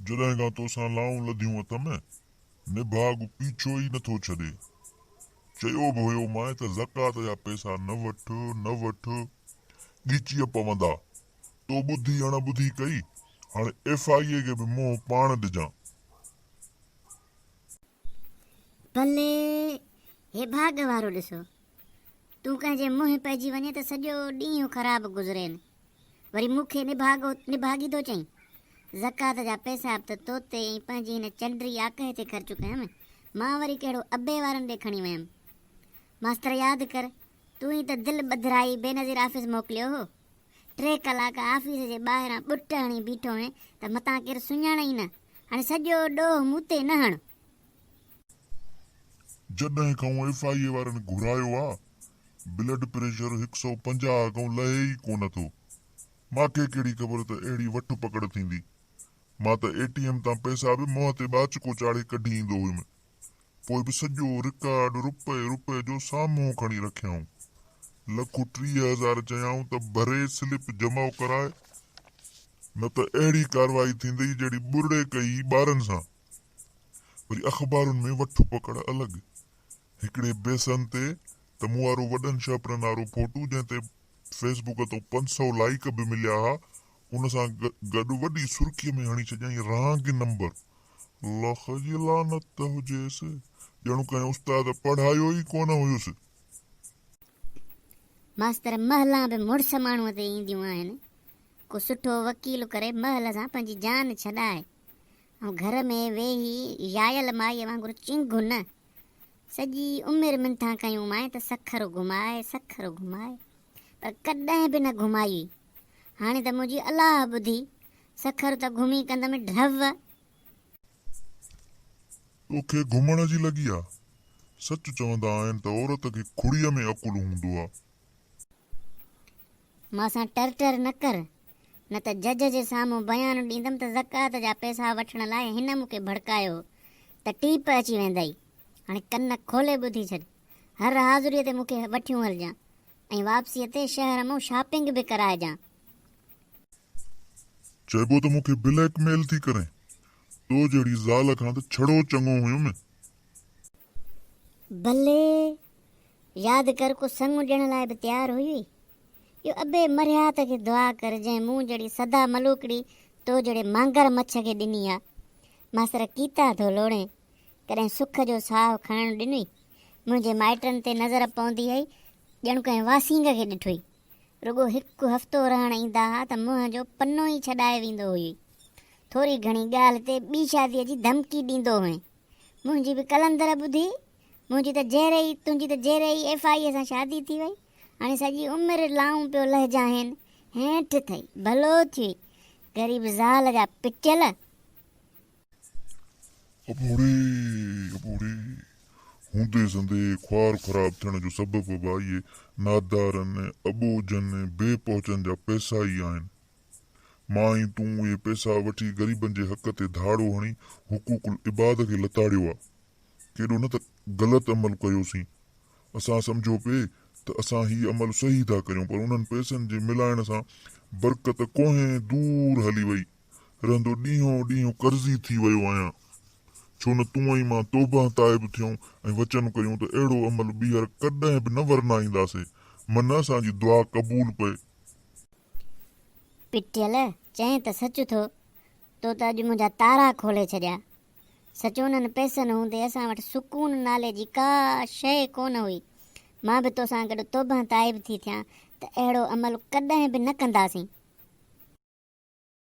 جڏهن کان توسان لائون لڌيون اٿم، نڀاڳ پيڇو ئي نٿو ڇڏي. چيو به هيو مانء ته زڪوات جا پئسا نه وٺ، نه وٺ، ڳچيء پوندا. تو ٻڌي اڻ ٻڌي ڪئي، هاڻي ايف آء اي کي به منهن پاڻ ڏجان. بلي هي ڀاڳ وارو ڏسو، تون ڪنهن جي منهن پئجي وڃين ته سڄو ڏينهن خراب گذرين، وري مون کي نڀاڳو نڀاڳي ٿو چئين، زڪوات جا پئسا به ته تو تي ۽ پنهنجي هن چنڊري آڪهه تي خرچ ڪيم، مان وري ڪهڙو ابي وارن ڏي کڻي ويم. ماستر ياد ڪر، تون ئي ته دل ٻڌرائي بينظير آفيس موڪليو هو. ٽي ڪلاڪ آفيس جي ٻاهران ٻٽ هڻي بيٺو هئين ته متان ڪير سڃاڻئي نه. هاڻي سڄو ڏوهه مون تي نه هڻ. جڏهن کانئون ايف آء اي وارن گهرايو آ بلڊ پريشر هڪ سؤ پنجاهه کانئون لهي ئي ڪونه ٿو. ماکي ڪهڙي خبر ته اهڙي وٺ پڪڙ ٿيندي. مان ته اي ٽي ايم تان پئسا به منهن تي ٻاچڪو چاڙهي ڪڍي ايندو هيم. پوء به سڄو رڪارڊ رپئي رپئي جو سامهون کڻي رکيائون. لک ٽيهه هزار چيائون ته ڀري سلپ جمع ڪرائي نه ته اهڙي ڪارروائي ٿيندئي جهڙي ٻرڙي ڪئي ٻارن سان. وري اخبارن ۾ وٺ پڪڙ الڳ. هڪڙي بيسن تي ته مون وارو وڏن شهپرن وارو ڦوٽو جنهن تي فيس بڪ تان پنج سؤ لائيڪ به مليا ها ان سان گڏ وڏي سرخيء ۾ هڻي ڇڏيائين رهانگي نمبر لک جي لعنت هجيس، ڄڻ ڪنهن استاد پڙهايو ئي ڪونه هيس. ماستر مهلان به مڙس ماڻهوء تي اينديون آهن. ڪو سٺو وڪيل ڪري مهل سان پنهنجي جان ڇڏائي ۽ گهر ۾ ويهي يايل مائيء وانگر چنگهه نه سڄي عمر منٿان ڪيون مانء ته سکر گهماء سکر گهماء پر ڪڏهن به نه گهمائي هاڻي ته منهنجي الاهه ٻڌي سکر ته گهمي ڪندم ڍو. توکي گهمڻ جي لڳي آ. سچ چوندا آهن ته عورت کي کڙيء ۾ عقل هوندو آ. مان سان ٽر ٽر نه ڪر، نه ته جج جي سامهون بيان ڏيندم ته زڪوات جا پئسا وٺڻ لاء هن مون کي ڀڙڪايو ته ٽيپ اچي ويندئي. هاڻي ڪن کولي ٻڌي ڇڏ. هر حاضريء تي مون کي وٺيون هلجان ۽ واپسيء تي شهر مون شاپنگ به ڪرائجان. چئبو ته مون کي بليڪ ميل ٿي ڪرين. تو جهڙي زال کان ته ڇڙو چڱو هيم. بلي! ياد ڪر ڪو سڱو ڏيڻ لاء به تيار هئي. اهو ابي مرهيات کي دعا ڪر جنهن مون جهڙي سدا ملوڪڙي تو جهڙي مانگر مڇ کي ڏني آ. ماستر ڪيتا ٿو لوڙين. ڪڏهن سک جو ساهه کڻڻ ڏنئي. منهنجي مائٽن تي نظر پوندي هئي ڄڻ ڪنهن واسينگ کي ڏٺوئي. رڳو هڪ هفتو رهڻ ايندا ها ته منهن جو پنو ئي ڇڏائي ويندو هئي. ٿوري گهڻي ڳالهه تي ٻي شاديء جي ڌمڪي ڏيندو هئين. منهنجي به قلندر ٻڌي، منهنجي ته جهري ئي، تنهنجي ته جهري ئي ايف آئيء سان شادي ٿي وئي. هاڻي سڄي عمر لائون پيو لهجانهين. هيٺ ٿئي، ڀلو ٿئي، غريب زال جا پچل. او ٻوڙي! او ٻوڙي! هوندي سندي خوار خراب ٿيڻ جو سبب به اهي نادارن، اٻوجهن، بي پهچن جا پئسا ئي آهن. مان ۽ تون اهي پئسا وٺي غريبن جي حق تي ڌاڙو هڻي حقوق العباد کي لتاڙيو آ. ڪيڏو نه ته غلط عمل ڪيوسين. اسان سمجهيو پئي ته اسان هي عمل صحيح ٿا ڪريون پر انهن پئسن جي ملائڻ سان برڪت ڪوهين دور هلي وئي. رهندو ڏينهون ڏينهن قرضي ٿي ويو آهيان ڇو نه تون ۽ مان توبهه تائب ٿيون ۽ وچن ڪيون ته اهڙو عمل ٻيهر ڪڏهن به نه ورنائينداسي من اسان جي دعا قبول پئي. پٽيل، چئين ته سچ ٿو تو ته اڄ منهنجا تارا کولي ڇڏيا سچ انهن پئسن هوندي اسان وٽ سڪون نالي جي ڪا شيء ڪونه هئي مان به توسان گڏ توبهه تائب ٿي ٿيان ته اهڙو عمل ڪڏهن به نه ڪنداسين.